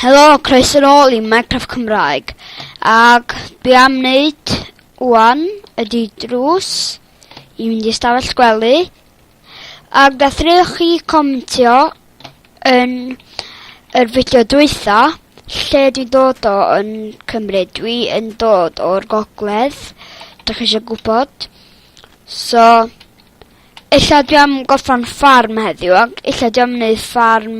Helo, croeso nôl i Minecraft Cymraeg, ac be am wneud wan ydy drws i fynd i stafell gwely, ac ddechreuwch chi comentio yn yr fideo dwytha lle dwi'n dod o yn Cymru. Dwi yn dod o'r gogledd, dych chi eisiau gwybod. So, illa dwi am gorffan ffarm heddiw, ac illa dwi am wneud ffarm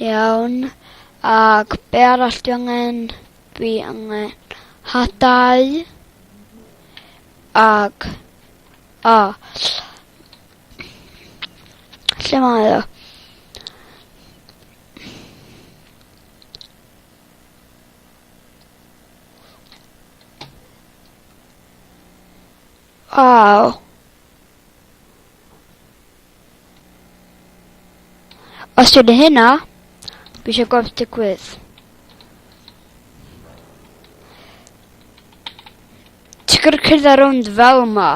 Iawn, ac be' arall dwi angen? Dwi angen hadau ag o lle mae o? Waw. Os dwi'n hynna, fi eisiau gweld digwydd. Ti'n gwrdd cyrdd ar ond fel ma,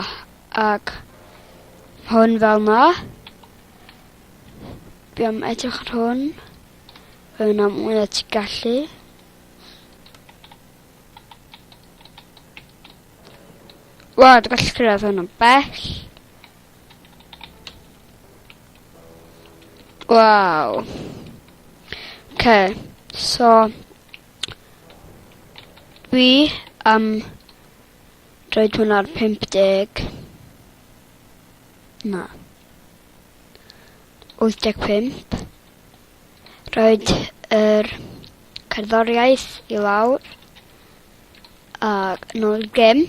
ac hwn fel ma. Fi am edrych ar hwn. Fe yna mwy na ti'n gallu. Wel, dwi'n gallu cyrraedd hwn yn bell. Waw. Oce, so dwi am roid hwn ar 50. Na. 85. Roed yr cerddoriaeth i lawr. Ac nôl gem.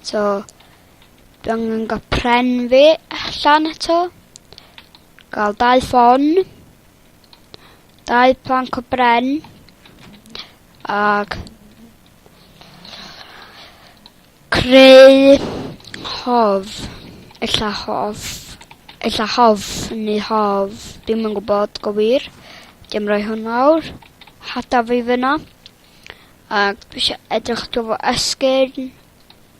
So Dwi angen ga'l pren fi allan eto. Ga'l dau ffon. Dau planc o bren. Ag... Creu... Hof. Ella hof. Ella hof neu hof. Dim yn gwybod go wir. Dim rhoi hwn nawr. Hada fi fyna. Ac dwi eisiau edrych dro fo esgyn.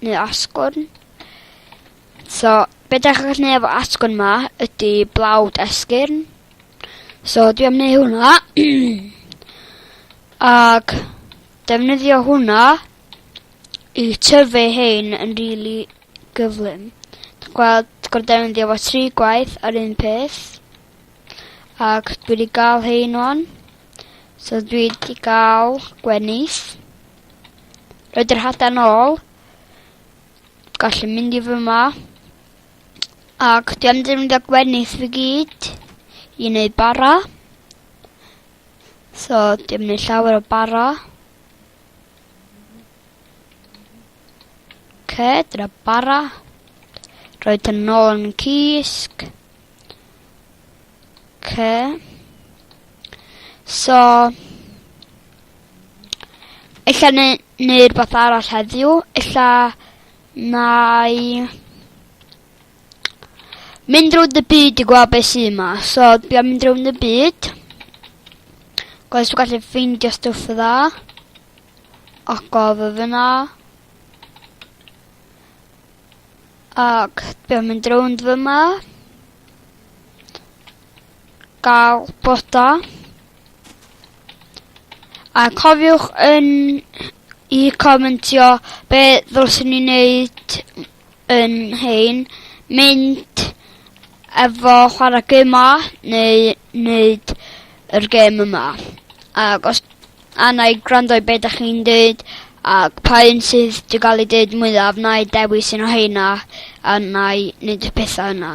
neu asgwrn. So, be da chi'n gallu neud efo asgwrn ma ydy blawd esgyrn. So, dwi am neud hwnna. Ac defnyddio hwnna i tyfu hein yn rili really gyflym. Dwi'n gweld gorau defnyddio fo tri gwaith ar un peth. Ac dwi wedi gael hein o'n. So dwi wedi gael gwenith. Roed yr hadau nôl. Gallu mynd i fy ma. Ac dwi am defnyddio gwenith fi gyd i wneud bara. So, dwi am wneud llawer o bara. Ce, dyna bara. Roed yn nôl yn cysg. Ce. So, Ella ne, neu rhywbeth arall heddiw. Ella nai mynd rownd y byd i gweld beth sy'n yma. So, dwi am mynd rownd y byd. Gwaith dwi'n gallu ffeindio stwff y dda. Ac o fy fyna. Ac dwi am mynd rownd fy yma. gael bod da. A cofiwch yn i comentio be ddylswn ni wneud yn hein, mynd efo chwarae gema neu wneud yr gem yma. Ac os anna i gwrando i be da chi'n dweud ac pa un sydd wedi cael ei dweud mwyaf na i dewis un o heina a na i wneud y pethau yna.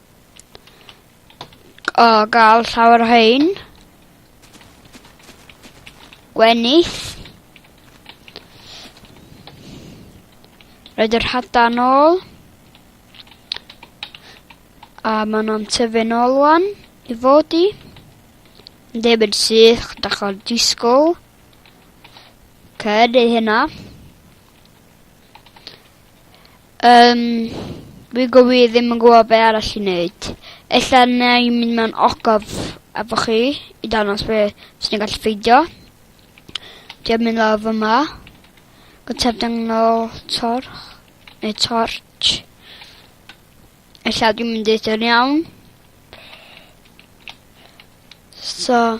O, gael llawer o hein. Gwenith. Rhaid yr hada yn ôl. A maen nhw'n tyfu'n ôl wan i fod i. Yn debyg syth, da chi'n disgwyl. Cyd ei hynna. Yym, fi go wir ddim yn gwbo be' arall i neud. Ella nâi mynd mewn ogof efo chi i dangos be' swn i'n gallu ffeidio. Dwi am myn' lawr fy ma. Gynta danglo torch neu tortsh. Ella dwi'm yn deud o'n iawn. So.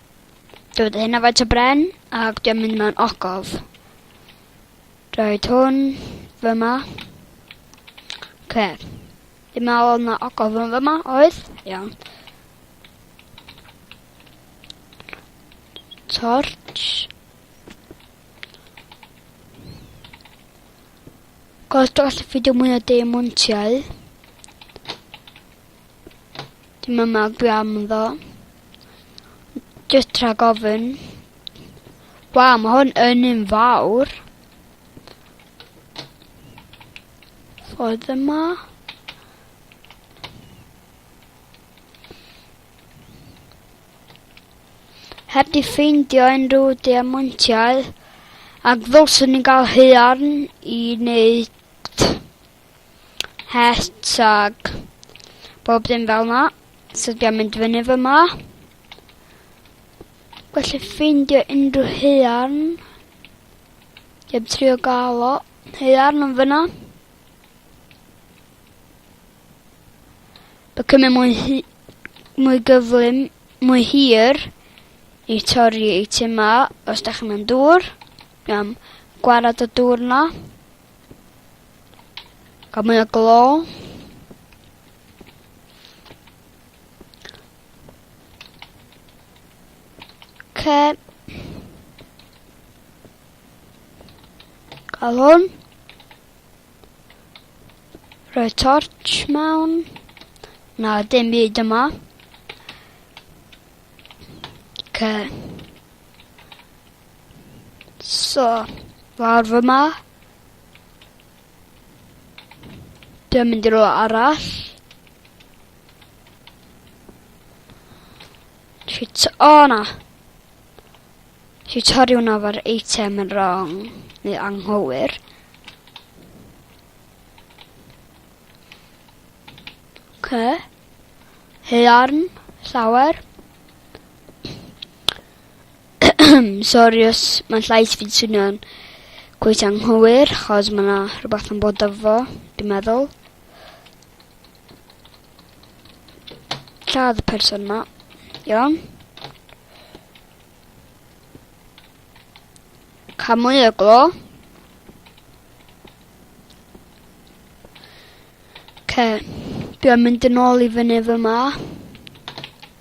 Dod hyn a faint o bren, ac dwi'n mynd mewn ogof. Roed hwn fyma. Ce. Dwi'n meddwl oedd yna ogof yn fyma, oedd? Iawn. Torch. Cos dros y ffidio mwy o deiamontiau. Dwi'm yn meddwl am ddo. Jyst rhag ofyn. Waw ma' hwn yn un fawr. Ffordd yma. Heb di ffeindio unrhyw diamantiau ac ddylswn ni'n gael haearn i wneud het ag bob dim fel 'na. So dwi am mynd fyny fy 'ma. Gwell ffeindio unrhyw haearn. Dwi am trio gael o. Haearn yn fyna. By cymryd mwy, hi, mwy gyflym, mwy hir i torri ei tu ma os da chi'n mynd dŵr. Iawn, gwarad y dŵr na. Cael mwy o glo. Okay. Cael hwn. Rhoi torch mewn. Na, dim byd yma. Okay. So, lawr fy ma. Dwi'n mynd i rwla arall. Shit, o oh, na. Dwi'n torri hwnna o'r eitem yn wrong, neu anghywir. Ok. Hearn, llawer. Sori os mae'n llais fi'n swnio'n cweit anghywir, chos mae yna rhywbeth yn bod efo, dwi'n meddwl. Lladd y person yma. Iawn. Cael mwy o glo. Okay. Dwi'n mynd yn ôl i fyny fy ma.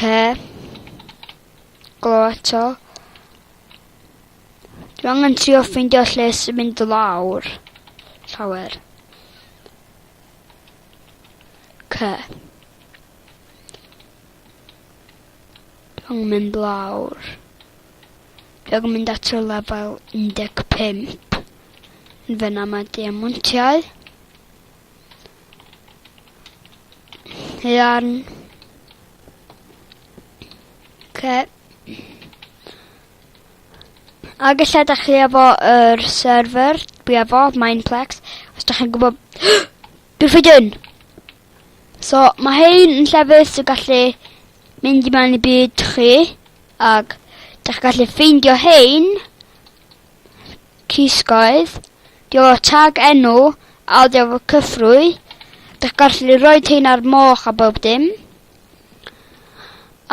Ce. Glo eto. Dwi angen trio ffeindio lle sy'n mynd lawr. Llawer. Ce. Dwi angen mynd lawr. Dwi angen mynd at y lefel 15. Yn fyna mae diamontiau. Iawn. Ce. A gallai da chi efo yr er server, dwi efo, Mineplex, os da chi'n gwybod... Dwi'n ffeid yn! So, mae hyn yn llefus y gallu mynd i mewn i byd chi, ac da chi gallu ffeindio hyn, Cysgoedd, diolch tag enw a oddi ar fy cyffrwy, dych gallu rhoi tein ar moch a bob dim.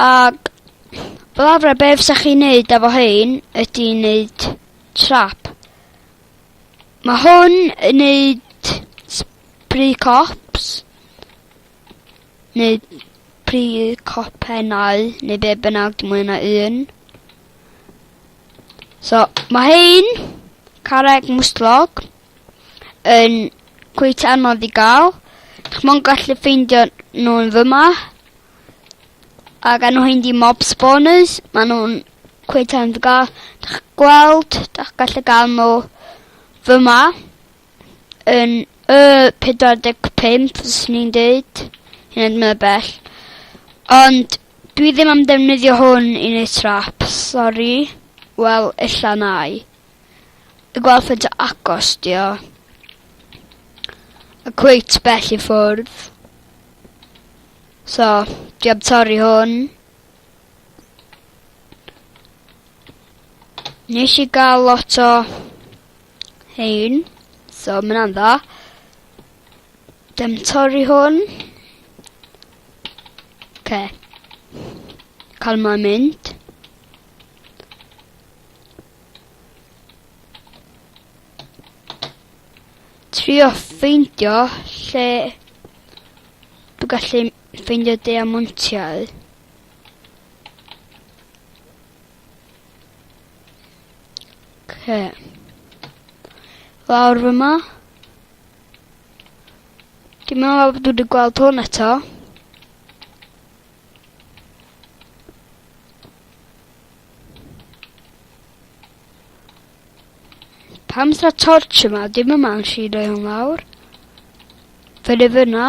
Ac fel arfer be fysa chi'n neud efo hein ydy neud trap. Mae hwn yn neud spray cops. neu prynu copennau neu be' bynnag dwi moyn a un. So ma' hein carreg mwstlog yn cweit anodd i ga'l. Dych mo'n gallu ffeindio nhw'n fyma. Ag enw hyn di mob spawners. Ma' nhw'n cweit anodd i ga'l. Dych gweld, dych gallu ga'l nhw fyma. yn y 45 fyswn i'n deud, hyn yn mor bell. Ond dwi ddim am defnyddio hwn i neud trap, sori. Wel, ella nai. Y gweld faint o agos di o. A cweit bell i ffwrdd. So, dwi am torri hwn. Nes i gael lot o Hein. So ma' wnna'n dda. Dem torri hwn. Oce. Cal ma mynd. Trio ffeindio lle dwi gallu ffeindio diamantiau. Oce. Lawr fy ma. Dwi'n meddwl bod dwi wedi gweld hwn eto. Pam sa torch yma? Dim yma yn si roi hwn lawr. Fe fyna.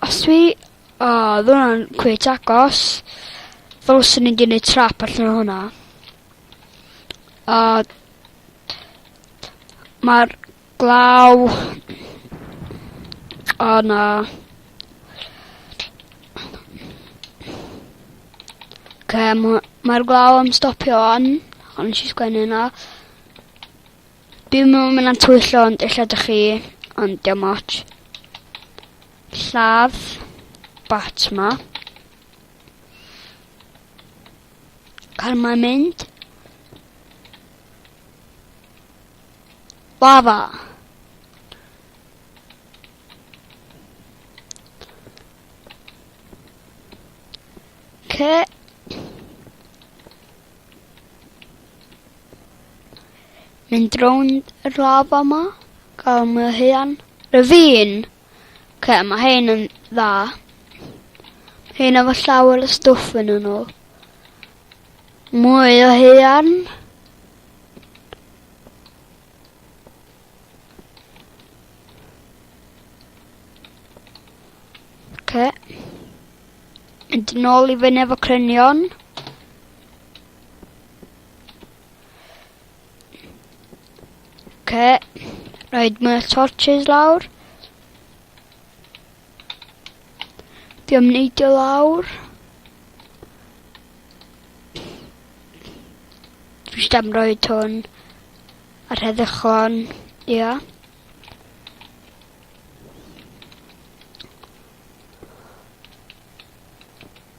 Os dwi... O, ddo hwnna'n cweit agos. Ddylswn i 'di neud trap allan o hwnna. A... Mae'r glaw... O na. Oce, ma' mae'r glaw am stopio wan, ond nes i sgwennu yna. Dwi'm yn myn' am twyllo ond ella dych chi, ond 'di o'm otsh. Lladd bat 'ma. Car 'ma'n mynd. Lava. Okay. Mynd rownd yr haf yma, gael myhian. Ravine! Oce, mae hein yn dda. Hein efo llawer o stwff yn nhw. Mwy o heian. Oce. Mynd yn ôl i fyny efo crynion. Okay. Rhaid mwy o torches lawr. Di am neidio lawr. Dwi eisiau am roi twn ar heddychlon. Ia. Yeah.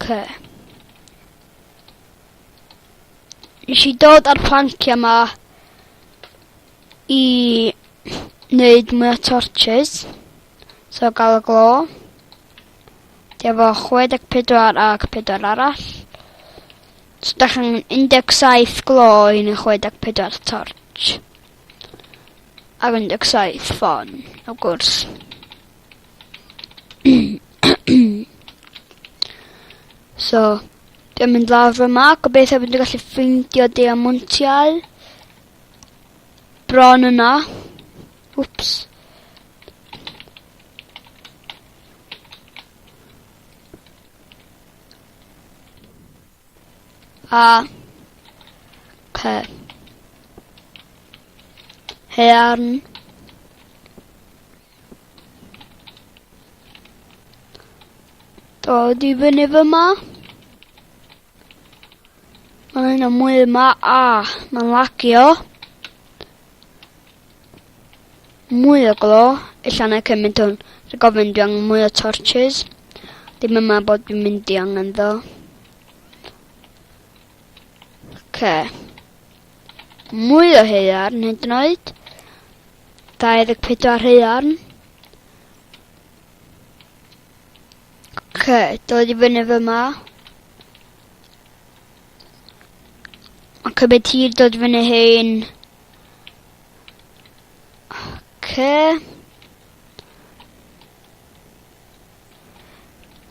Okay. Nes i dod ar plancia ma i wneud mwy o torches. So gael y glo. Dwi efo 64 ac 4 arall. So da chi'n 17 glo i ni 64 torch. Ar 17 ffon, o gwrs. so, dwi'n mynd lawr yma, gobeithio bod dwi'n gallu ffeindio diamontiau. Bron yna. Wps. A. P. Hearn. Dod i fyny fy ma. Mae'n hyn o mwy yma. A. Mae'n lagio. Mwy o glo, ella na cymaint o'n rhag ofn dwi angen mwy o torches. Dim yma bod dwi'n mynd i angen ddo. Oce. Mwy o heiarn hyd yn oed. 24 heiarn. Oce, dod i fyny fy ma. Mae'n cymryd tir dod i fyny hyn. Okay.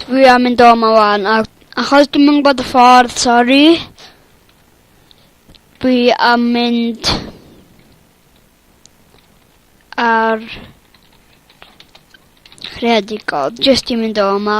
Dwi am mynd o ma wan, a achos dwi'n mynd bod y ffordd, sori. Dwi am mynd ar creadigol, jyst i mynd o ma.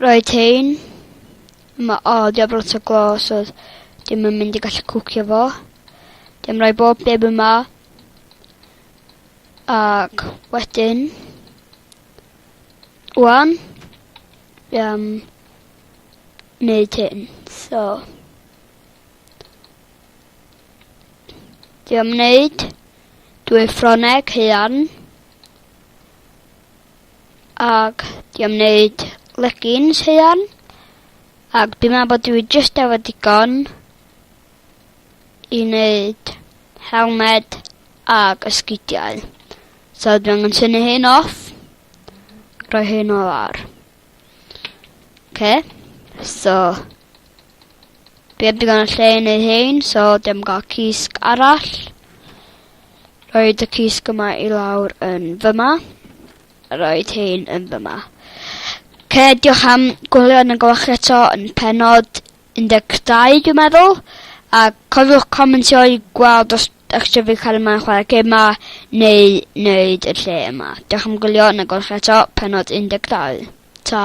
Roedd tein. Mae odd a brot o glos oedd dim yn mynd i gallu cwcio fo. Dim rhoi bob dim yma. Ac wedyn... Wan. Um, neud hyn. So... Dwi am wneud dwy ffroneg hean. Ag i am wneud leggings huan. Ag dwi'n meddwl bod dwi just efo digon i wneud helmed ag ysgidiau. So dwi'n angen tynnu hyn off. Rhoi hyn o lawr. Okay, so... Fi heb digon o lle yn ei hyn, so dim gael cysg arall. Roed y cysg yma i lawr yn fyma. Roed hyn yn fyma. Okay, diolch am gwylio yn y gwach eto yn penod 12 dwi'n meddwl, a cofiwch comentio i gweld os dach chi isio cael yma'n chwarae gêm ma, neu wneud y lle yma. Diolch am gwylio, yn y golch eto, penod 12. Ta!